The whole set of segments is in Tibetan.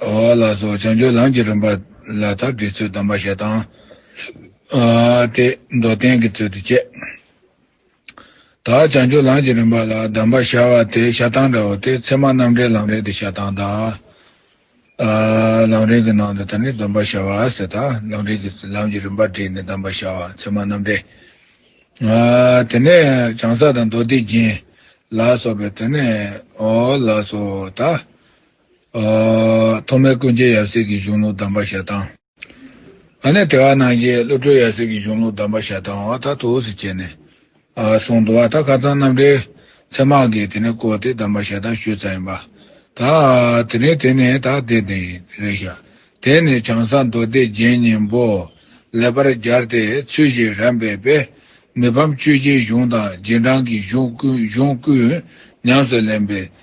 ལ་སོགས་བྱང་ཆུབ་ལམ་གྱི་རིམ་པ་ལ་དག་བྲིས་ཚུལ་གདམས་པ་ཞེས་དང། སྟེ། མདོར་བསྟན་གྱི་ཚུལ་དུ་བཅད། དག་བྱང་ཆུབ་ལམ་གྱི་རིམ་པ་ལ་གདམས་པ་ཤར་བ་དེ་ཤ་སྟག་འདྲ་བོ་སྟེ་ཚད་མ་རྣམ་འགྲེལ་ལམ་རིམ་དུ་ཤ་སྟག་དང། ལམ་རིམ་གྱི་ནང་དུ་ད་ནི་སྡོམ་པ་ཤར་བ་ཟེར་དང་ལམ་རིམ་གྱི་ལམ་གྱི་རིམ་པ་བྲིས་ནས་གདམས་པ་ཤར་བ་ཚད་མ་རྣམ་འགྲེལ། དེ་ནས་བྱང་ས་དང་མདོ་སྡེ་རྒྱན། ལ་སོགས་པའི་དོན། ལ་སོགས་དག། ཐོག་མའི་ཀུན་མཁྱེན་ཡབ་སྲས་ཀྱི་གཞུང་ལུགས་གདམས་པ་ཞལ་ཐང། ཨ་ནེ་དེ་བ་གནང་རྗེས་བློ་གྲོས་ཡབ་སྲས་ཀྱི་གཞུང་ལུགས་གདམས་པ་ཞལ་ཐང་བ་ད་དུ་ཟེར་བྱས་ནས་གསུངས་འདུག་བ་ད་ག་ཚང་རྣམ་འགྲེལ་ཚད་མ་གིས་དེ་ནས་བསྐོར་ཏེ་གདམས་པ་ཞལ་ཐང་ཞུས་ཚར་ཡིན་པ། ད་དེ་རིང་དེ་ནས་ད་དེ་དེ་རེད་ཤག་དེ་ནས་བྱང་ས་མདོ་སྡེ་རྒྱན་སྙིང་པོ་ལེགས་པར་སྦྱར་ཏེ་ཚུལ་བཞིན་རམ་འབད་པས་མི་ཕམ་ཆོས་རྗེའི་གཞུང་དང་རྗེས་འབྲང་གི་གཞུང་ཀུན་ཉམས་སུ་ལེན་པའི་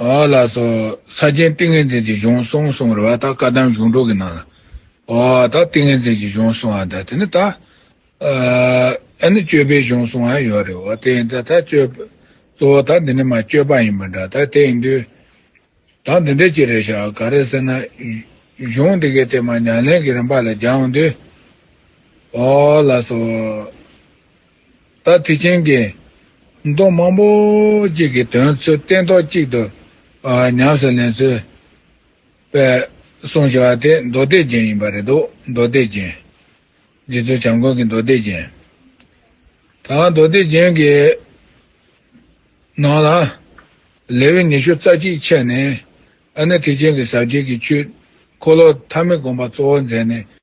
འོ་ལ་སོགས་ས་ཆེན་ཏིང་ངེ་འཛིན་གྱི་གཞུང་གསུངས་གསུང་བར་བ་ལྟར་བཀའ་གདམས་གཞུང་དྲུག་གི་ནང་ལ། འོ་དང་ཏིང་ངེ་འཛིན་གྱི་གཞུང་གསུང་བ་འདི་ནི་ད། ཨ་ནི་སྤྱོད་པའི་གཞུང་གསུང་བའང་ཡོད་རེད་བ་དེ་ཡིན་ད་ད་སྤྱོད། གཙོ་བོ་དང་འདི་ནི་མ་སྤྱོད་པ་ཡིན་པ་འདྲ་ད་དེ་ཡིན་དུས། དང་འདི་འདྲས་ཅི་རེད་བྱ་ག་རེད་ཟེར་ན། གཞུང་འདི་གའི་དེ་མ་ཉམས་ལེན་གྱི་རིམ་པ་ལ་སྦྱང་དུས། འོ་ལ་སོགས། ད་ཐེག་ཆེན་གྱི། མདོ་མང་པོ་གཅིག་གི་དོན་ཚུལ་བསྟན་ཐོག་གཅིག་ཏུ། ཉམས་སུ་ལེན་ཚུལ། པའི། གསུང་བྱ་བ་དེ་མདོ་སྡེ་ཅན་ཡིན་པ་རེད་དོ། མདོ་སྡེ་ཅན། རྗེ་བཙུན་བྱམས་མགོན་གྱི་མདོ་སྡེ་ཅན། ད་མདོ་སྡེ་ཅན་གྱི། ནང་ལ། ལས་དབྱེ་ཉི་ཤུ་རྩ་གཅིག་འཆད་ནས། ཨ་ནེ་ཐེག་ཆེན་གྱི་ཟབ་རྒྱས་ཀྱི་ཆོས། འཁོར་ལོ་ཐ་མི་དགོངས་པ་གཙོ་བོར་མཛད་ནས།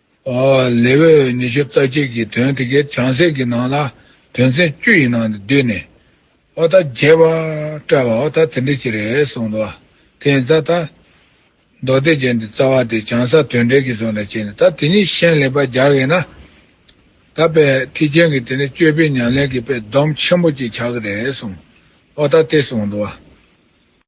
ལེ་ཝི་འོས་ཉི་ཤུ་རྩ་གཅིག་གི་དོན་དེ་གའི་བྱང་ཚད་ཀྱི་ནང་ལ་དོན་ཚན་བཅུ་ཡི་ནང་དུ་བསྡུས་ནས། ཨོ་ད་རྒྱས་པ། བཀྲ་བ་ཨོ་ད་དེ་འདྲ་ཅིག་རེད་གསུངས་འདུག་དེ་ཡིན་ཙང་ད། མདོ་སྡེ་བརྒྱད་འདི་རྩ་བ་དེ་བྱང་ས་དོན་འགྲེལ་གྱི་བཟོ་འདྲ་བྱས་ནས་ད་དེ་གཉིས་ཤན་ལེགས་པར་རྒྱག་གི་ན། ད་པའི་ཐེག་ཆེན་གྱི་དེ་ནས་སྤྱོད་པའི་ཉམས་ལེན་གྱི་པའི་སྡོམ་ཆེན་པོ་ཅིག་ཆགས་ཀྱི་རེད་གསུངས། ཨོ་ད་དེ་གསུངས་འདུག།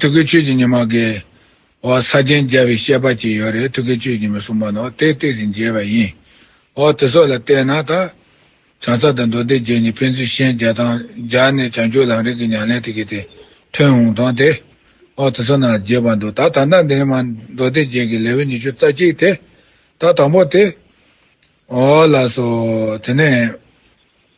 ཐུགས་ཀྱི་ཆོས་ཀྱི་ཉི་མ་འགའི། འོག་ས་སྦྱིན་རྒྱལ་བའི་བཤད་པ་གཅིག་ཡོད་རེད་ཐུགས་ཀྱི་ཆོས་ཀྱི་ཉི་མ་གསུངས་པ་ནོ་དེ་བལྟས་ཟིན་རྒྱལ་བ་ཡིན། འོག་དེ་སོགས་ལ་བལྟས་ན་ད། བྱང་ས་དང་མདོ་སྡེ་བརྒྱད་གཉིས་ཕན་ཚུན་ཤན་སྦྱར་དང་སྦྱར་ནས་བྱང་ཆུབ་ལམ་རིགས་ཀྱི་ཉམས་ལེན་དེ་གྱིས་དེ་ཐོན་འོང་དང་དེ། འོག་དེ་སོགས་ནང་ལ་རྒྱས་པར་འདུག་ད་ད་ལྟ་འདི་ནི་མ་མདོ་སྡེ་བརྒྱད་ཀྱི་ལེའུ་ཉི་ཤུ་རྩ་གཅིག་དེ། ད་དང་པོ་དེ། འོག་ལ་སོགས་དེ་ནས།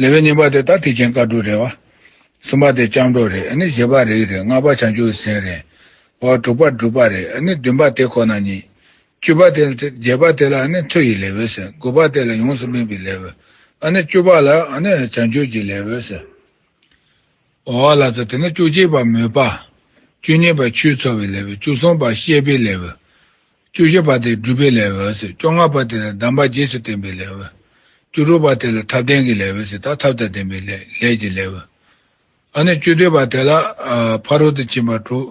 ལེ་བའི་གཉིས་པ་དེ་ད་ཐེག་ཆེན་བཀའ་དྲུག་རེད། བ་གསུམ་པ་དེ་སྐྱབས་འགྲོ་རེད་ནི་བཞི་པ་རིགས་རེད་ལྔ་པ་བྱང་ཆུབ་ཀྱི་སེམས་རེད། བ་དྲུག་པ་སྒྲུབ་པ་རེད་ནི་བདུན་པ་དེ་ཁོ་ན་ཉིད། བཅུ་པ་དེ་ལ་དེ་བརྒྱད་པ་དེ་ལ་ནི་མཐུ་ཡི་ལེ་བའི་ཟེར་དགུ་པ་དེ་ལ་ཡོངས་སུ་སྨིན་པའི་ལེ་བའི་ནི་བཅུ་པ་ལ་ནི་བྱང་ཆུབ་ཀྱི་ལེ་བའི་ཟེར། བ་ལ་ཚ་དེ་ནི་བཅུ་གཅིག་པ་མོས་པ། བཅུ་གཉིས་པ་ཆུས་འཚོ་བའི་ལེ་བའི་བཅུ་གསུམ་པ་ཤེས་པའི་ལེ་བའི། བཅུ་བཞི་པ་དེ་སྒྲུབ་པའི་ལས་འོད་ཟེར་བཅོ་ལྔ་པ་དེ་ལ་གདམས་པ་རྗེས་སུ་བསྟན་པའི་ལས་འོད། བཅུ་དྲུག་པ་དེ་ལ་ཐབས་ལྡན་གྱི་ལས་འོད་ཟེར་དང་ཐབས་དང་ལྡན་པའི་ལས་ཀྱི་ལས་འོད། ཨ་ནི་བཅུ་དོད་པ་དེ་ལ་ཕ་རོལ་ཏུ་ཕྱིན་པ་དྲུག་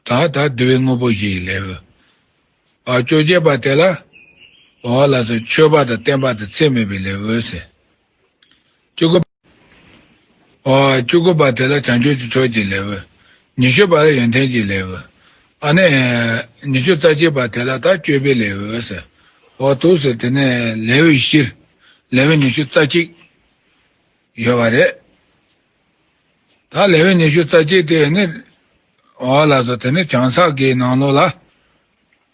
དང་དང་བསྡུ་བའི་དངོས་པོ་བཞི་ཡི་ལས་འོད། བཅུ་བརྒྱད་པ་དེ་ལ། ལ་སོགས་མཆོད་པ་དང་བསྟན་པ་དང་ཚད་མེད་པའི་ལས་འོད་ཟེར། བཅུ་དགུ་པ་དེ་ལ་བྱང་ཆུབ་ཀྱི་ཕྱོགས་ཀྱི་ལེའུ། ཉི་ཤུ་པ་ལ་ཡོན་ཏན་གྱི་ལེའུ། ཨ་ནི། ཉི་ཤུ་རྩ་གཅིག་པ་དེ་ལ་དག་སྤྱོད་པའི་ལེའུ། ཨོ་ཐུགས་སུ་དེ་ནས་ལེའུ་བཞིར་ལེའུ་ཉི་ཤུ་རྩ་གཅིག་ཡོད་པ་རེད། ད་ལེའུ་ཉི་ཤུ་རྩ་གཅིག་དེ་ནི། ཨོ་ལགས་སོ་དེ་ནི་བྱང་སགས་ཀྱི་ནང་ལོགས་ལ།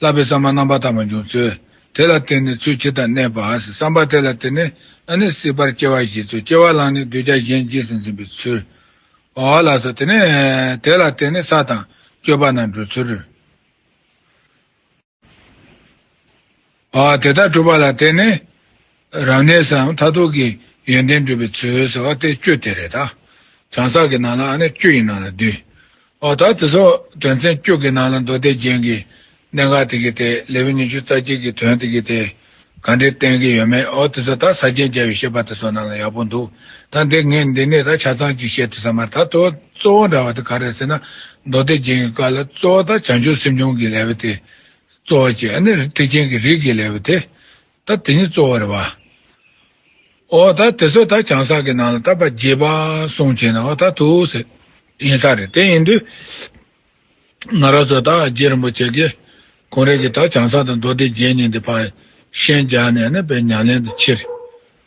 བསླབ་པའི་བསམ་པ་རྣམ་པར་དག་པ་འབྱུང་ཚུལ། དེ་ལ་བརྟེན་ནས་ཚུལ་ཁྲིམས་དང་གནས་པ། བསམ་པ་དེ་ལ་བརྟེན་ནས་ཨ་ནི་སྲིད་པར་སྐྱེ་བ་བཞེས་ཚུལ་སྐྱེ་བ་བླངས་ནས་གདུལ་བྱ་གཞན་རྗེས་སུ་འཛིན་པའི་ཚུལ། ཨོ་ལ་ས་དེ་ནས། དེ་ལ་བརྟེན་ནས་ས་དང། སྤྱོད་པ་རྣམས་བགྲོད་ཚུལ། ཨོ་དེ་ལྟར་གྲུབ་པ་ལ་བརྟེན་ནས། རང་གནས་སམ་མཐར་ཐུག་གི་ཡོན་ཏན་འགྲུབ་པའི་ཚུལ་ཟེར་བ་དེ་སྤྱོད་དེ་རེད། གང་ཟག་གི་ནང་ལ་ནི་སྤྱོད་ཡིན་ནང་ལ་འདུས། འོ་ད་དེ་སོགས་དོན་ཚན་བཅུ་གི་ནང་ལ་མདོ་སྡེ་རྒྱན་གྱི་གནད་འགག་དེ་གའི་ཐད་ལེའུ་ཉི་ཤུ་རྩ་གཅིག་གི་དོན་དེ་གའི་ཐད་གང་དྲིས་བསྟན་གྱི་ཡོད་མེད་འོ་དེ་ཚོ་ད་ས་སྤྱན་རྒྱལ་བའི་བཤད་པ་དེ་སོགས་ནང་ལ་ཡག་པོ་འདུག་ད་འདི་ངས་འདི་ནས་ད་ཆ་ཚང་གཅིག་བཤད་ཐུབ་ས་མ་རེད་ད་དོ་གཙོ་བོ་འདྲ་བ་དེ་ག་རེད་ཟེར་ན་མདོ་སྡེ་རྒྱན་གྱི་བཀའ་ལ་གཙོ་བོ་ད་བྱང་ཆུབ་སེམས་སྦྱོང་གི་ལེའུ་དེ་གཙོ་བོ་བཅས་ཨ་ནི་ཐེག་ཆེན་གྱི་རིགས་ཀྱི་ལེའུ་དེ་ད་དེ་ནི་གཙོ་བོ་རེད་བ། ཨོ་ད་དེ་ཚོས་ད་བྱང་བསགས་ཀྱི་ནང་ལ་ད་པ་རྗེས་པ་སོང་བྱས་ན་ཨོ་ད་ཐུགས་ཟེར། ཡིན་ས་རེད་དེ་ཡིན་དུས། ང་རང་ཚོ་ད་རྗེ་རིན་པོ་ཆེ་ཀྱེ་གོང་རེད་ཀྱི་ད་བྱང་བསགས་དང་མདོ་སྡེ་བརྒྱད་གཉིས་འདི་པ་ཤན་རྒྱག་ནས་ནི་པའི་ཉམས་ལེན་དུ་ཕྱིར།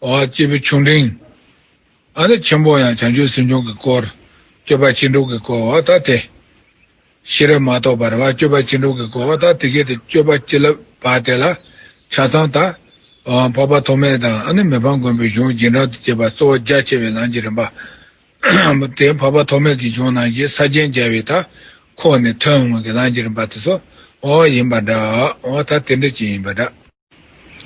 སྐྱེས་བུ་ཆུང་འབྲིང་ཨ་ནུ་ཆེན་པོ་ཡང་བྱང་ཆུབ་སེམས་བྱུང་གི་སྐོར་སྤྱོད་པ་ཅི་འགྲུབ་ཀྱི་སྐོར་བ་ད་དེ། ཤེས་རབ་མ་གཏོགས་པར་བ་སྤྱོད་པ་ཅི་འགྲུབ་ཀྱི་སྐོར་བ་ད་དེ་སྐད་དུ་སྤྱོད་པ་ཅི་ལབ་བ་དེ་ལ་ཆ་ཚང་དང། འཕགས་པ་ཐོགས་མེད་དང་ཨ་ནུ་མི་ཕམ་མགོན་པོའི་གཞུང་རྗེས་འབྲང་དུ་བཅས་པ་གཙོ་བོ་རྒྱ་ཆེ་བའི་ལམ་གྱི་རིམ་པ། དེ་འཕགས་པ་ཐོགས་མེད་ཀྱི་གཞུང་ནང་བཞིན་ས་བརྒྱན་རྒྱལ་བའི་དག་ཁོངས་ནས་ཐོན་འོངས་ཀྱི་ལམ་གྱི་རིམ་པ་དེ་ཚོ་ཡིན་པ་འདྲ། ད་དེ་འདྲ་ཅན་ཡིན་པ་འདྲ།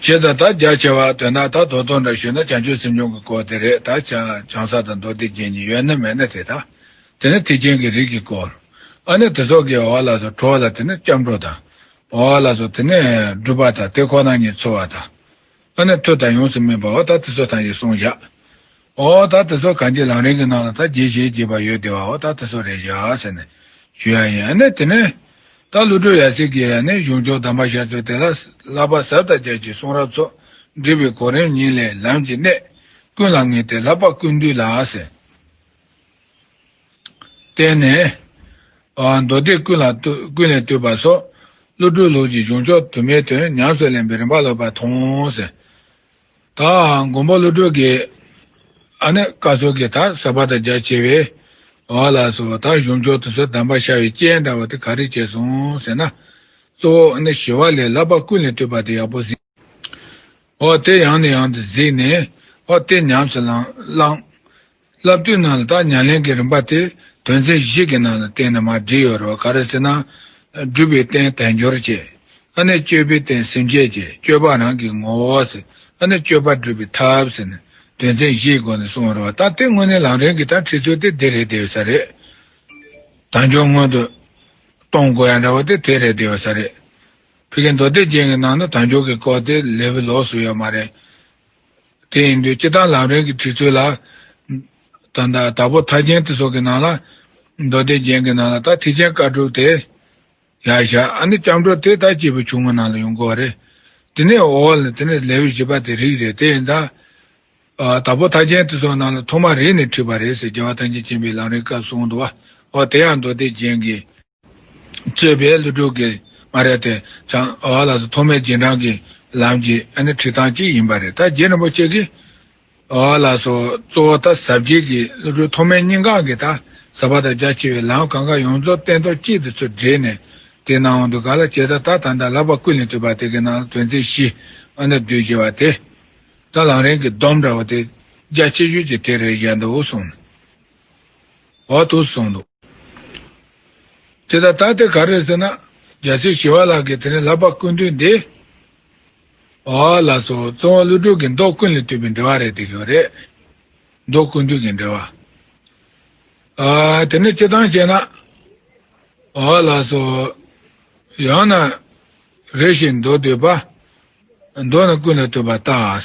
ཅེས་དང་དག་རྒྱག་བྱེད་བར་འདོད་ན་ད་དོ་དོ་འདྲ་ཞུས་ན་བྱང་ཆུབ་སེམས་སྦྱོང་གི་སྐོར་དེ་རེད་ད། བྱང་ས་དང་མདོ་སྡེ་བརྒྱད་གཉིས་ཡོད་ན་མེད་ན་དེ་དང། དེ་ནི་ཐེག་ཆེན་གྱི་རིགས་ཀྱི་སྐོར། ཨ་ནི་དེ་སོགས་ཀྱི་བ་ལ་སོགས་གྲོ་བ་ལ་དེ་ནི་སྐྱབས་འགྲོ་དང། བ་བ་ལ་སོགས་དེ་ནི་སྒྲུབ་པ་དང་དེ་ཁོ་ན་ཉིད་འཚོལ་བ་དང། ཨ་ནི་མཐུ་དང་ཡོངས་སུ་སྨིན་པ་བ་ད་དེ་ཚོ་དང་ཞེས་གསུངས་བཞག། ཨོ་ད་དེ་ཚོ་ག་འདི་རང་རིང་གི་ནང་ལ་ད་རྗེས་ཞེས་བགྱིས་པ་ཡོད་དེ་བ་ཨོ་ད་དེ་ཚོ་རེད་ཡ་ཟེར་ནས་ཞུ་ཡ་ཡིན་ཨ་ནས་དེ་ནས། ད་ཀླུ་སྒྲོལ་ཡ་སྲིད་ཀྱིས་ཡ་ནས་གཞུང་ཕྱོགས་དམ་པ་ཤ་ཚོས་དེ་ལ་ལག་པ་ཟབ་ལྟ་རྒྱབ་ཀྱི་གསུང་རབ་ཚོགས་འབྲི་བའི་གོ་རིམ་ཉིད་ལས་ལམ་གྱི་གནད་ཀུན་ལ་ངེས་ཏེ་ལྷག་པ་ཀུན་འདུས་ལ་ཟེར། བསྟན་ནས། མདོ་སྡེ་ཀུན་ལ་ཀུན་ལས་བཏུས་པ་སོགས། ཀླུ་སྒྲོལ་ལུགས་ཀྱི་གཞུང་ཕྱོགས་དུ་མའི་དོན་ཉམས་སུ་ལེན་པའི་རིམ་པ་ལོ་པ་མཐོང་ཟེར། ད་འང་དགོངས་པ་བློ་གྲོས་ཀྱི། ཨ་ནི་བཀའ་སྲོལ་གྱི་དག་ཟབ་པ་དང་རྒྱ་ཆེ་བའི། བ་ལ་སོགས་དག་གཞུང་མཆོག་ཏུ་སོགས་གདམས་པ་ཤར་བའི་སྤྱན་འདྲ་བ་དེ་ག་རེ་བྱས་སོང་ཟེར་ན། གཙོ་བོ་ཨ་ནི་ཞི་བ་ལས་བསླབ་པ་ཀུན་ལས་སྤྲོས་པ་དེ་ཡག་པོ་གཟིགས། འོ་དེ་ཡང་ནས་ཡང་དུ་གཟིགས་ནས། འོ་དེ་ཉམས་སུ་བླངས། བསླབ་བཏུས་ནང་ལ་དག་མྱ་ལེན་གྱི་རིམ་པ་དེ་དོན་ཚན་བཞི་གྱི་ནང་ལ་གཏན་ནས་མ་བྲིས་ཡོད་རེད་བ་ག་རེ་ཟེར་ན། སྒྲུབ་པའི་རྟེན་དལ་འབྱོར་བཅས། ཨ་ནས་སྤྱོད་པའི་རྟེན་སེམས་བསྐྱེད་བཅས་སྤྱོད་པ་རང་གི་ངོ་བོ་ཟེར་ཨ་ནས་སྤྱོད་པ་སྒྲུབ་པའི་ཐབས་ཟེར་ནས་དོན་ཚན་བཞིའི་སྒོ་ནས་གསུངས་ཡོད་རེད་བ་ད་དེ་དངོས་གནས་ལམ་རིམ་གྱི་དག་ཁྲིད་ཚུལ་དེ་འདི་རེད་དེ་ཡོད་ས་རེད། དལ་འབྱོར་སྔོན་དུ་གཏོང་དགོས་ཡ་འདྲ་བ་དེ་དེ་རེད་དེ་ཡོད་ས་རེད། ཕི་གའི་མདོ་སྡེ་ཅན་གྱི་ནང་ན་དལ་འབྱོར་གྱི་སྐོར་དེ་ལས་བུ་ལོགས་སུ་ཡོད་མ་རེད། དེ་ཡིན་དུས་སྤྱི་དང་ལམ་རིམ་གྱི་བྲིས་ཚུལ་ལ། དང། དྭགས་པོ་མཐའ་ཅན་ཏི་སོགས་ཀྱི་ནང་ལ། མདོ་སྡེ་རྒྱན་གྱི་ནང་ལ་དག་ཐིག་ཅན་བཀའ་གྲུབ་སྟེ། ཡ་ཞྭ་ཨ་ནི་སྐྱབས་འགྲོ་དེ་དག་སྐྱེས་བུ་ཆུང་ངུ་ནང་ལ་ཡོང་དགོས་པ་རེད། དེ་ནས་འོ་ལ་དེ་ནི་ལེའུ་བཞི་པ་དེ་རིགས་རེད་དེ་ཡིན་དཱ། དྭགས་པོ་མཐའ་ཅན་ཏི་སོགས་ནང་ལ་ཐོག་མ་རེ་ནས་བྲིས་པ་རེད་ཟེར་རྒྱལ་བ་ཐམས་ཅད་མཁྱེན་པའི་ལམ་རིམ་སྐབས་གསུངས་འདུག་བ། དེ་ཡང་མདོ་སྡེ་རྒྱན་གྱི། རྩོད་པའི་གླུ་དྲུག་གི་སྨ་ར་དེ་བྱང་བ་ལགས་སུ་ཐོག་མའི་རྗེས་འབྲང་གི་ལམ་གྱི་ཁྲིད་སྟངས་གཅིག་ཡིན་པ་རེད། ད་རྗེ་རིན་པོ་ཆེ་གིས་བ་ལགས་སུ་གཙོ་བོ་ད་ཟབ་རྒྱས་ཀྱི་གླུ་དྲུག་ཐོག་མའི་སྙིང་གང་གི་ད་ཟབ་པ་དང་རྒྱ་ཆེ་བའི་ལམ་གང་ག་ཡོངས་རྫོགས་བསྟན་ཐོག་གཅིག་ཏུ་ཚུར་སྦྲེལ་ནས་དེ་ནང་དབང་དུ་ག་ལ་བྱེད་ད་ད་ད་ད་ལག་པ་ཀུན་ལས་ཐོས་པ་དེ་གི་ནང་ལ་དོན་ཚན་བཞི་ཨ་ན་བསྡུས་ཞེས་བ་དེ། ད་ལང་རིང་གི་སྡོམ་འདྲ་བ་དེ་རྒྱ་ཆེ་ཤོས་ཀྱི་དེ་རེད་བཞག་འདུག་གསུངས། འོག་ཏུ་སོང་འདུག། དེ་ལྟར་ད་དེ་ག་རེད་ཟེར་ན། རྒྱ་སེ་ཞི་བ་ལགས་ཀྱིས་དེ་ནས་ལབ་པ་ཀུན་བཏུས་འདི། ཨོ། ལ་སོགས་གཙོ་བོ་ཀླུ་སྒྲུབ་ཀྱི་མདོ་ཀུན་ལས་བཏུས་པའི་འགྲེལ་བ་རེད་དེ་ཞོ་རེད། མདོ་ཀུན་བཏུས་ཀྱི་འགྲེལ་བ། ཨ། དེ་ནས་སྤྱི་དང་བྱས་ན། ཨོ། ལ་སོགས། ཡང་ན། རེ་ཞིག་མདོ་བཏུས་པ། མདོ་ནི་ཀུན་ལས་བཏུས་པ་ལྟ།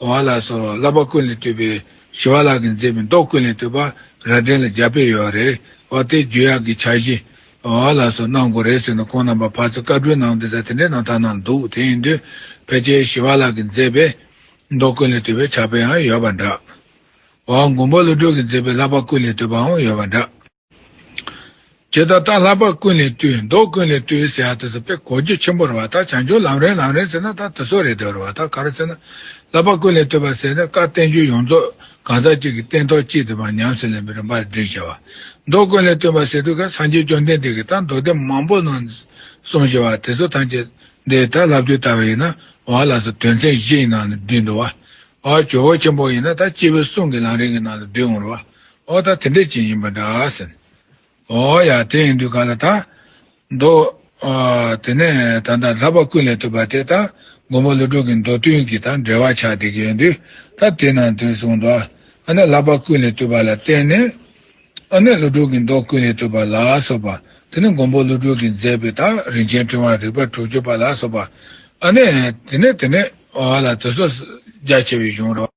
བ་ལ་སོགས་བསླབ་པ་ཀུན་ལས་བཏུས་པའི་ཞི་བ་ལག་གིས་མཛེས་པའི་མདོག་ཀུན་ལས་བཏུས་པ་ར་སྒྲེང་ལ་རྒྱ་དཔེ་ཡོད་རེད་བ་དེ་རྒྱུ་ཡག་གི་འཆར་གཞི་བ་ལ་སོགས་གནང་དགོས་རེད་ཟེར་ནས་ཁོང་རྣམ་པ་ཕར་ཚུར་བཀའ་དྲུང་གནང་དེ་ཟ་དེ་འདྲའི་གནང་ཐང་གནང་འདུག་དེ་ཡིན་དུས་ཕལ་ཆེར་ཞི་བ་ལག་གིས་མཛེས་པའི་མདོག་ཀུན་ལས་བཏུས་པའི་འཆར་དཔེ་ཡང་ཡོད་པ་འདྲ་བ་མགོན་པོ་བློ་གྲོས་ཀྱིས་མཛེས་པའི་བསླབ་པ་ཀུན་ལས་བཏུས་པའང་ཡོད་པ་འདྲ། ཇི་ལྟར་རྟ་ལྷག་པར་ཀུན་ལས་བཏུས་མདོག་ཀུན་ལས་བཏུས་ཟེར་བ་དེ་ཚོ་དཔེ་གོ་རྒྱུ་ཆེན་པོ་རེད་བ་ལྟར་བྱང་ཆུབ་ལམ་རན་ལམ་རན་ཟེར་ན་ད་དེ་ཚོ་རེད་འདོད་རེད་བ་ལྟར་ག་རེ་ཟེར་ན། ལྷག་པར་ཀུན་ལས་བཏུས་པ་ཟེར་ནས་བཀའ་བསྟན་རྒྱུད་ཡོངས་རྫོགས་གང་ཟག་གཅིག་གི་སྟན་ཐོག་གཅིག་དེ་མ་ཉམས་སུ་ལེན་པའི་རིམ་པ་བསྒྲིགས་བྱས་བ། མདོག་ཀུན་ལས་བཏུས་པ་ཟེར་དུས་ཀ་སངས་རྒྱས་བཅོམ་ལྡན་འདས་ཀྱིས་ད་མདོག་སྡེ་མང་པོ་གནང་གསུངས་བཞིན་བ་དེ་ཚོ་ཐམས་ཅད་འདི་ད་ལབ་དུས་ལྟ་བ་ཡིན་ན་བ་ལ་སོ་དོན་ཚན་བཞི་ཡི་ནང་ལ་བསྡུས་འདུག་བ། བ་ཇོ་བོ་ཆེན་པོ་ཡིན་ན་ད་སྤྱི་བོའི་གསུང་གི་ལམ་རིང་གི་ནང་ལ་བསྡུས་འོང་རོགས། ཨོ་ད་དེ་འདྲས་ཅན་ཡིན་པ་འདྲ་ཟེར། ཨོ་ཡ་དེ་ཡིན་དུས་ག་ལ་ད། མདོ། དེ་ནས་ད་ལྟ་ལྷག་པ་ཀུན་ལས་ཐུབ་པ་དེ་ད་མགོན་པོ་ལོ་དྲུག་གི་མདོ་བསྟུན་གྱི་ད་འགྲེལ་བ་ཆགས་བསྡད་ཀྱི་ཡོད་དུས་ད་དེ་ནང་དུས་གསུངས་འདུག་ཨ་ནེ་ལྷག་པ་ཀུན་ལས་ཐུབ་པ་ལ་བརྟེན་ནས། ཨོ་ནེ་ལོ་དྲུག་གི་མདོ་ཀུན་ལས་ཐུབ་པ་ལ་སོགས་པ་དེ་ནི་མགོན་པོ་ལོ་དྲུག་གིས་མཛད་པའི་ད་རིན་ཆེན་ཕྲེང་བ་རིག་པ་དྲུག་ཅུ་པ་ལ་སོགས་པ་ཨ་ནེ། དེ་ནས་དེ་ནས་ཨོ་ལ་དེ་སོགས་རྒྱ་ཆེ་བའི་གཞུང་རོ།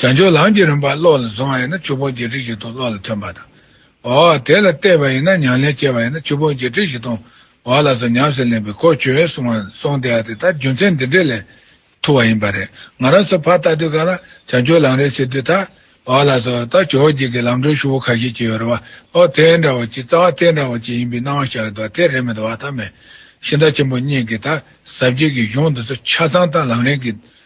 བྱང་ཆུབ་ལམ་གྱི་རིམ་པ་བློ་ལ་བཟུང་བ་ཡིན་ན་ཆོས་ཕུང་བརྒྱད་ཁྲི་བཞི་སྟོང་བློ་ལ་ཐོན་པ་དང། འོ། དེ་ལ་བལྟས་པ་ཡིན་ན་ཉམས་ལེན་སྤྱད་པ་ཡིན་ན་ཆོས་ཕུང་བརྒྱད་ཁྲི་བཞི་སྟོང་བ་ལ་སོགས་ཉམས་སུ་ལེན་པའི་གོ་ཆོད་གསུང་བ་སོང་སྟེ་ཨ་དེ་ལྟར་རྒྱུ་མཚན་འདི་འདྲས་ལས་ཐུ་བ་ཡིན་པ་རེད། ང་རང་ཚོ་ཕར་ལྟ་དུས་ག་ལ་བྱང་ཆུབ་ལམ་རེད་ཟེར་དུས་ད་བ་ལ་སོགས་ད་ཇོ་བོ་རྗེས་ཀྱི་ལམ་འགྲོ་ཞུ་བོ་ཁ་ཤས་ཀྱི་ཡོད་རེད་བ་ཨོ་དེ་འདྲ་བོ་ཅིག་རྩ་བ་དེ་འདྲ་བོ་ཅིག་ཡིན་པའི་སྣང་བ་ཤར་གི་འདུག་དེ་རེད་མི་འདུག་བ་ད་མེད། ཤིང་རྟ་ཆེན་པོ་གཉིས་ཀྱི་ད་ཟབ་རྒྱས་ཀྱི་གཞུང་འདི་ཚོ་ཆ་ཚང་ད་ལམ་རིང་གི།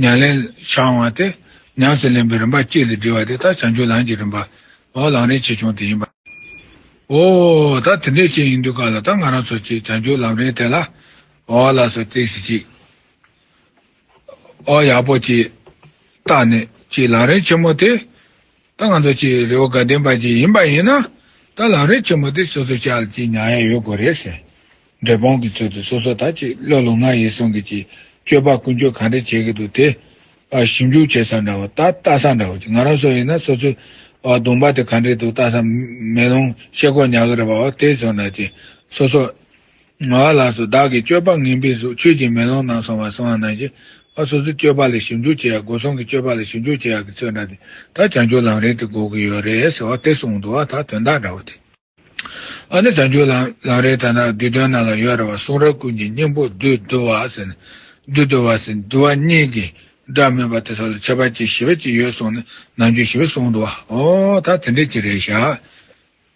མྱ་ལན། ཕྱག་དབང་སྟེ། ཉམས་སུ་ལེན་པའི་རིམ་པ་གཅིག་ལས་འབྲི་བ་དེ་དག་བྱང་ཆུབ་ལམ་གྱི་རིམ་པ། འོ་ལང་རིན་ཆེ་ཆུང་དེ་ཡིན། འོ། ད་དེ་འདྲའི་ཆེ་ཡིན་དུས་ག་ལ་ད་ང་རང་ཚོ་ཅིག་བྱང་ཆུབ་ལམ་རིན་དེ་ལ། འོ་ལ་སོ་བརྩེགས་ཤིག་ཅིག། འོ་ཡག་པོ་ཅིག། བརྟགས་ནས་ཅིག་ལང་རིན་ཆེན་མོ་དེ། ད་ང་ཚོ་ཆེས་རེ་བ་དགའ་ལྡན་པ་ཅིག་ཡིན་པ་ཡིན་ན། ད་ལམ་རིང་ཆེན་མོ་དེ་སོ་སོ་ཅག་ལ་ཅིག་མྱངས་ཡ་ཡོད་དགོས་རེད་ཟེར། འབྲས་སྤུངས་ཀྱི་ཚུལ་དུ་སོ་སོ་དག་ཅིག་བློ་ལུང་ང་ཡིས་གསུང་གི་ཅིག་སྤྱོད་པ་ཀུན་སྤྱོད་གང་འདྲ་བྱེད་ཀྱི་འདུག་དེ། ཞིབ་འཇུག་བྱེད་ས་འདྲ་བོ་ད་ལྟ་ས་འདྲ་བོ་ཅིག་ང་རང་སོ་ཡིན་ན་སོ་སོའི། གདོང་པ་དེ་གང་འདྲས་འདུག་ལྟ་ས་མེད་རུང་ཤེས་དགོས་ཉག་གི་རེད་པའོ་དེ་སོ་ན་ཅིག་སོ་སོ། ང་ལ་སོགས་བདག་གི་སྤྱོད་པ་ངན་པའི་གཟུགས་ཁྱོད་ཀྱིས་མེ་ལོང་ནང་སོང་བར་སོང་ང་ནང་བཞིན་ཨ་སོ་སོའི་སྤྱོད་པ་ལས་ཞིབ་འཇུག་བྱེད་ཡག་སྒོ་སོང་གི་སྤྱོད་པ་ལས་ཞིབ་འཇུག་བྱེད་ཡག་གི་ཚོད་འདྲ་དེ་ད་བྱང་ཆུབ་ལམ་རིང་དེ་འགོག་གི་ཡོད་རེད་ཟེར་བ་དེ་གསུངས་འདུག་ཨ་ད་དོན་དག་འདྲ་བོ་དེ། ཨ་ནི་བྱང་ཆུབ་ལམ་རིང་ད་ནང་བསྡུས་དོན་ནང་ལ་ཡོད་རེད་བ་གསུང་རབ་ཀུན་གྱི་སྙིང་པོ་བསྡུས་བསྡུ་བ་ཟེར་ནས་བསྡུས་བསྡུ་བ་ཟེར་བསྡུ་བ་གཉིས་ཀྱི་སྒྲ་མེད་པ་དེ་སོགས་ལ་ཁྱད་པར་གཅིག་ཞི་བ་གཅིག་ཡོད་གསུངས་ནས་ནང་རྒྱུན་ཞི་བ་གསུངས་འདུག་ཨ་འོ་ད་དེ་འདྲའི་གཅིག་རེད་ཤག།